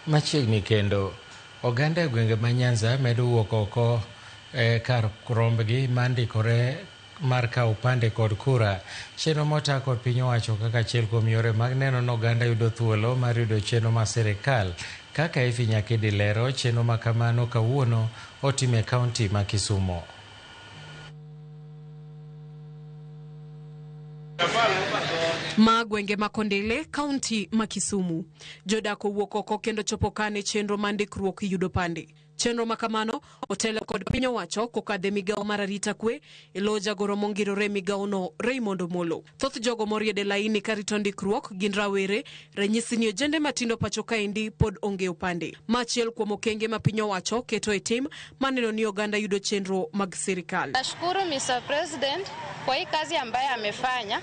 Machiegni kendo, oganda e gwenge ma Nyanza medo wuok oko e kar rombgi ma ndikore mar kawo opande kod kura. Chenro mota kod piny owacho kaka achiel kuom yore mag neno ni oganda yudo thuolo mar yudo chenro ma sirikal. Kaka Effie Nyakidi lero, chenro ma kamano kawuono otim e kaunti ma Kisumo. Ma gwenge ma Kondele, kaunti ma Kisumu. Jodak owuok oko kendo chopo kane chenro ma ndikruok yudo pande. Chenro ma kamano otelo kod piny owacho kokadhe migawo mar arita kwe e lo jagoro mongirore migawono Raymond Omolo. Thoth jogo moriede laini karito ndikruok gin rawere, ranyisi ni ojende matindo pacho kaendi pod onge opande. Ma achiel kuom okenge ma piny owacho keto e tim maneno ni oganda yudo chenro mag sirikal. Nashukuru Mr. President kwa hii kazi ambayo amefanya.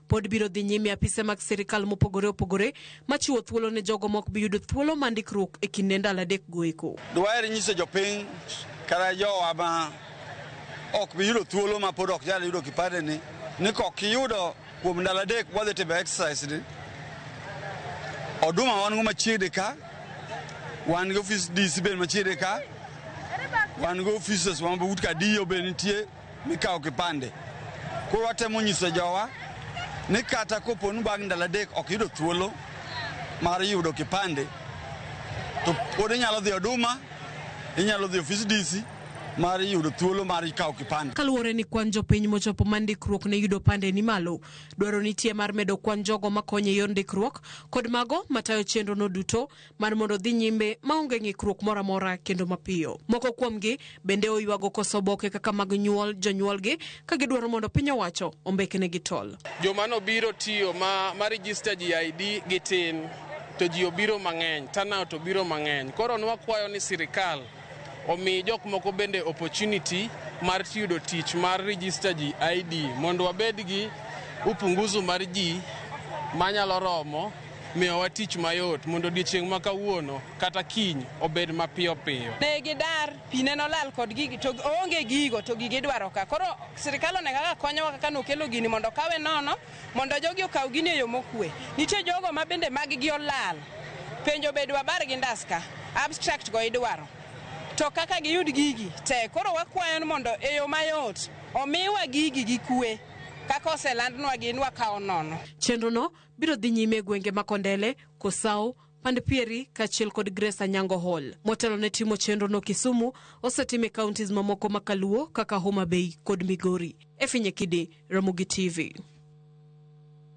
Pod biro dhi nyime apise mag sirkal mopogore opogore machiwo thuolo ne jogo ma ok bi yudo thuolo ma ndikruok e kinde ndalo adek go eko. Dwaher nyiso jopiny kata jowa ma ok bi yudo thuolo ma pod ok nyal yudo kipande ni ni kok iyudo kuom ndalo adek wadhi timo exercise ni oduma wan go machiegni ka wan gi ofis DC bende machiegni ka wan gi offices wa but ka DO be nitie mikawo kipande. Koro watemo nyiso jowa ni kata kopo ni bang' ndalo adek ok yudo thuolo mar yudo kipande, to pod inyalo dhi Oduma, inyalo dhi ofis DC mar yudo thuolo mar kawo kipande. Kaluwore ni kwan jopiny mochopo ma ndikruok ne yudo pande ni malo, dwaro nitie mar medo kwan jogo makonyo e yor ndikruok kod mago matayo chenrono duto mar mondo odhi nyime maonge ng'ikruok moro amora kendo mapiyo. Moko kuomgi bende oywago koso oboke kaka mag nyuol jonyuolgi ka gidwaro mondo piny owacho ombekenegi tol. Joma nobiro tiyo ma, ma register ji ID gi tin to ji obiro mang'eny, turnout obiro mang'eny. Koro nwakwayo ni sirikal omi jok moko bende opportunity mar yudo tich mar register ji ID mondo wabed gi upunguzu mar ji manyalo romo Miyowa tich mayot mondo odiechieng' ma kawuono kata kiny obed mapiyo piyo. Ne gidar, pi ne nolal kod gigi to oonge gigo to gigi idwaro ka. Koro sirkal one kaka konyowa kaka nokelo gini mondo okawe nono mondo jogi okaw gini e yo mokue. Nitie jogo ma bende mag gi olal. Penjo be dwabar gi ndas ka. Abstract go idwaro. To kaka giyud gigi tek. Koro wakwayo ni mondo e yo mayot omiwa gigi gi kue kaka oselandnwa gi ni wakawo nono. Chenrono biro dhi nyime e gwenge ma Kondele, Kosau, Pand Pieri kaachiel kod Grace Anyango Hall. Motelo ne timo chenrono Kisumu, osetim e counties mamoko ma Kaluo kaka Homa Bay kod Migori. Efinye Kidi, Ramogi TV.